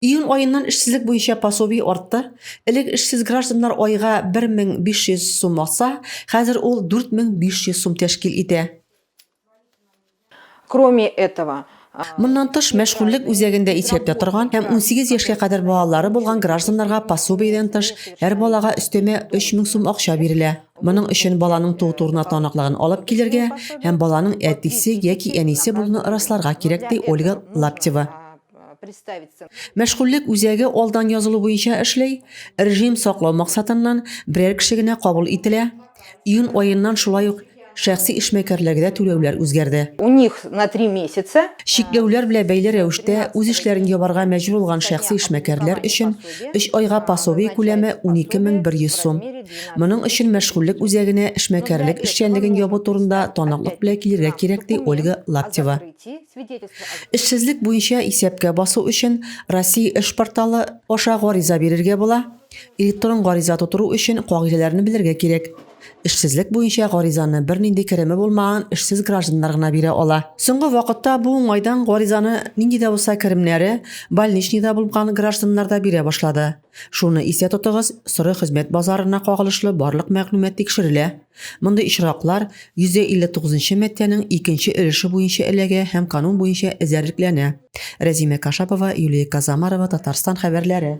Июнь аеннан эшсезлек буенча пособие артты. Элек эшсез гражданнар айга 1500 сум алса, хәзер ул 4500 сум тәшкил итә. Кроме этого, Моннан тыш, мәшгульлек үзәгендә исәптә торган һәм 18 яшькә кадәр балалары булган гражданнарга пособиедән тыш һәр балага өстәмә 3000 сум акча бирелә. Моның өчен баланың туу турына таныклыгын алып килергә һәм баланың әтисе яки әнисе булуны расларга кирәк, ди Ольга Лаптева. представиться. Мәшгульлек үзәге алдан язылу буенча эшли, режим саклау максатыннан берәр кеше генә кабул ителә. Июнь аеннан шулай ук шәхси эшмәкәрләргә түләүләр үзгәрде. У них на три месяца. Чикләүләр белән бәйле рәвештә үз эшләрен ябарга мәҗбүр булган шәхси эшмәкәрләр өчен 3 айга пособие күләме 12100 сум. Моның өчен мәшгульлек үзәгенә эшмәкәрлек эшчәнлеген ябу турында таныклык белән килергә кирәк, ди Ольга Лаптева. Эшсезлек буенча исәпкә басу өчен Россия эш порталы аша гариза бирергә була. Электрон гариза тутыру өчен кагыйдәләрне белергә кирәк. Эшсезлек буенча гаризаны бернинди кереме булмаган эшсез гражданнар гына бирә ала. Соңгы вакытта бу уңайдан гаризаны нинди дә булса керемнәре больничныйда булган гражданнар да бирә башлады. Шуны истә тотыгыз, соры хезмәт базарына кагылышлы барлык мәгълүмат тикшерелә. Мондый очраклар 159 маддәнең икенче өлеше буенча эләгә һәм канун буенча эзәрлекләнә. Рәзимә Кашапова, Юлия Казамарова, Татарстан хәбәрләре.